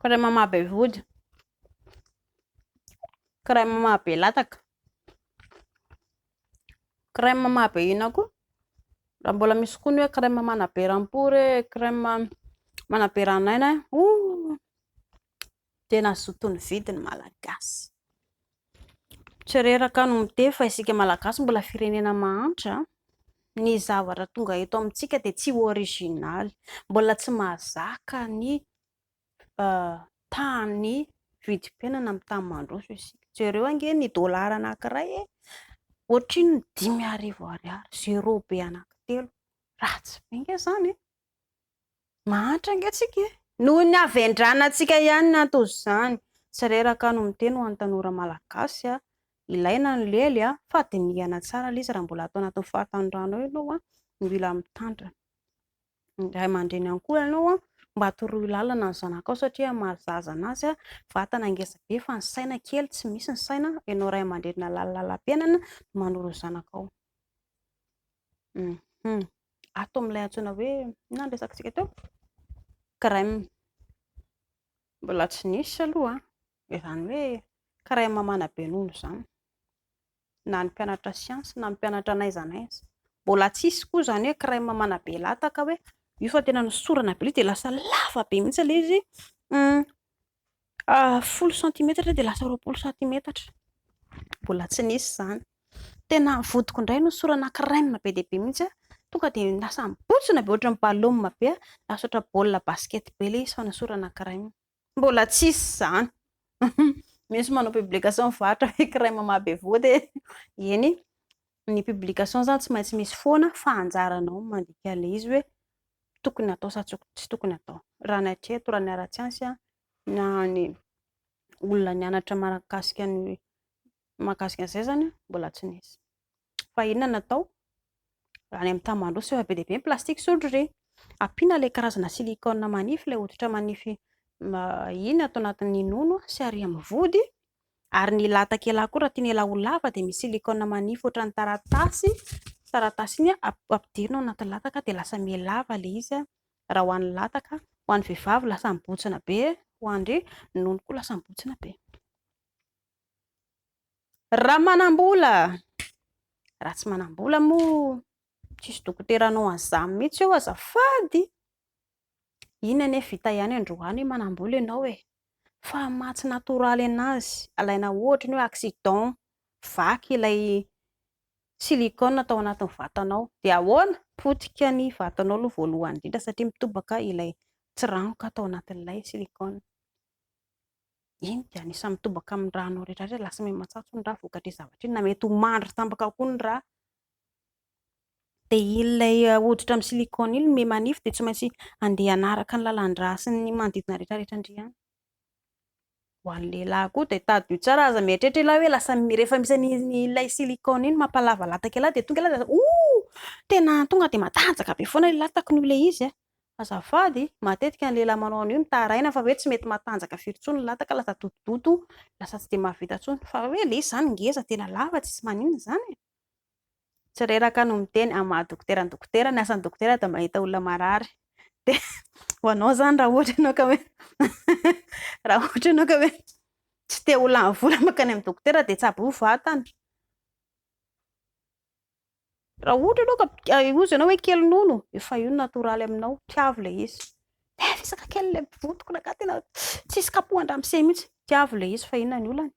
Crème maha be vody. Crème maha be lataka. Crème maha be inona koa? Raha mbola misy koa ny hoe crème manabe rampory e, crème manabe ran'aina e. Ouh! Tena zoton'ny vidy ny Malagasy. Tsy reraka no miteny fa isika Malagasy mbola firenena mahantra. Ny zavatra tonga eto amintsika dia tsy originaly. Mbola tsy mahazaka ny tahan'ny vidim-piainana amin'ny tany mandroso isika. Jereo ange ny dolara anankiray e! Ohatrin'ny dimy arivo ariary, zéro be anankitelo. Ratsy be ange izany e! Mahantra ange tsika e! Noho ny havendranantsika ihany ny anton'izany. Tsy reraka no miteny ho an'ny tanora malagasy a! Ilaina ny lely a! Fa dinihana tsara le izy raha mbola ato anatin'ny fahatanorana ao ianao a! No mila mitandrina. Ny ray aman-dreny ihany koa ianao a! Mba toroy lalana ny zanakao satria maro zaza anazy a! Vatana ngeza be fa ny saina kely, tsy misy ny saina. Ianao ray aman-dreny nalahalalam-piainana no manoro ny zanakao. Hum. Ato amin'ilay antsoina hoe inona no resakantsika teo? Crème. Mbola tsy nisy aloha an, izany hoe crème manabe nono izany, na ny mpianatra siansa na ny mpianatra n'aiza n'aiza. Mbola tsy hisy koa izany hoe crème manabe lataka hoe io fa tena nosorana be ilay izy dia lasa lava be mihitsy ilay izy. Folo santimetatra dia lasa roapolo santimetatra. Mbola tsy nisy izany. Tena vodiko indray no sorana kirainina be dia be mihitsy. Tonga dia lasa mibotsina be ohatran'ny balaoma be. Lasa ohatra baolina basket be ilay izy fa nosorana kirainina. Mbola tsy hisy izany. Misy manao publication mivarotra hoe kiraima mahabe vody e. Eny. Ny publication zany tsy maintsy misy foana fa anjaranao ny mandika ilay izy hoe tokony atao sa tsy tokony atao. Raha ny hatreto, raha ny ara-tsiansa an, na ny olona nianatra mahakasika ny mahakasika an'izay izany an, mbola tsy nisy. Fa inona no atao? Raha any amin'ny tany mandroso efa be dia be ny plastique sao ndry re! Ampiana ilay karazana silicone manify, ilay hoditra manify iny ato anatin'ny nono sy ary amin'ny vody, ary ny lahatakela koa raha tiana ela ho lava dia misy silikona manify ohatran'ny taratasy, taratasy iny ampidirina ao anaty lataka dia lasa miha lava ilay izy raha ho an'ny lataka, ho an'ny vehivavy lasa mibontsina be, ho an'ny nono koa lasa mibontsina be. Raha manam-bola, raha tsy manam-bola moa tsisy dokotera hanao an'izany mihitsy eo azafady. Iny anie vita ihany androany manambola ianao e! Fa maha tsy natoraly an'azy alaina ohatra ny hoe accident vaky ilay silicone tao anatin'ny vatanao dia ahoana? Potika ny vatanao aloha voalohany indrindra satria mitobaka ilay tsiranoka tao anatin'ilay silicone. Iny dia anisan'ny mitobaka amin'ny ranao rehetra rehetra lasa miha-matsatso ny rà vokatr'iny zavatra iny na mety ho mandry tambaka koa ny rà Dia iny ilay hoditra amin'ny silicone iny mi manify dia tsy maintsy andeha hanaraka ny lalan-drà sy ny manodidina rehetra rehetra ndry an! Ho an'ny lehilahy koa dia tadidio tsara, aza mieritreritra ialahy hoe lasa rehefa misy an'ilay silicone iny mampalava lataka ialahy dia tonga ialahy dia oh! tena tonga dia matanjaka be foana ny latako noho ilay izy an! azafady matetika ny lehilahy manao an'io mitaraina fa hoe tsy mety matanjaka firy intsony ny lataka lasa dotodoto, lasa tsy dia mahavita intsony, fa hoe ilay izy izany ngeza tena lava tsisy maninona izany e! tsy reraka no miteny amin'ny maha dokotera ny dokotera, ny asan'ny dokotera dia mahita olona marary, dia ho anao izany raha ohatra ianao ka hoe raha ohatra ianao ka hoe tsy te ho lany vola mankany amin'ny dokotera dia tsabo ho vatana, raha ohatra ianao ka hozy ianao hoe kely nono efa io no natoraly aminao, tiavo ilay izy, eh resaka kely ilay vovontoko na ka tena tsisy kapohan-dramose mihintsy, tiavo ilay izy fa inona ny olana e.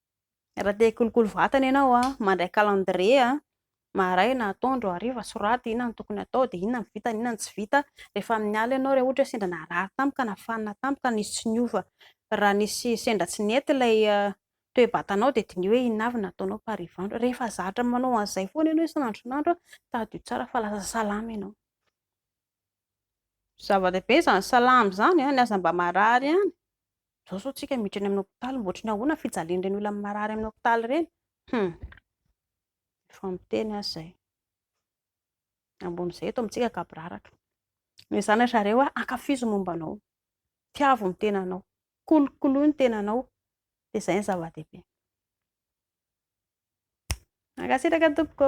Raha te hikolokolo vatana ianao, mandray calendrier, maraina, atoandro, hariva, soraty inona no tokony hatao, dia inona no vita, inona no tsy vita. Rehefa amin'ny alina ianao, raha ohatra hoe sendra narary tampoka, nafanina tampoka, nisy tsy niova, raha nisy sendra tsy nety ilay toe-batanao, dia diniho hoe inona avy no nataonao par i Vandry. Rehefa zatra manao an'izay foana ianao isan'andro isan'andro, tadidio tsara fa lasa salama ianao. Zava-dehibe izany salama izany an, ny aza mba marary ihany, izao sao tsika miditra any amin'ny hopitaly mba ohatry ny ahoana ny fijalian'ireny olona marary amin'ny hopitaly ireny? Hum! Efa miteny aza izay. Ambon'izay eto amintsika gaboraraka. Ny zanatrareo an, ankafizo ny momba anao, tiavo ny tenanao, kolokoloy ny tenanao, dia izay ny zava-dehibe. Mankasitraka tompoko.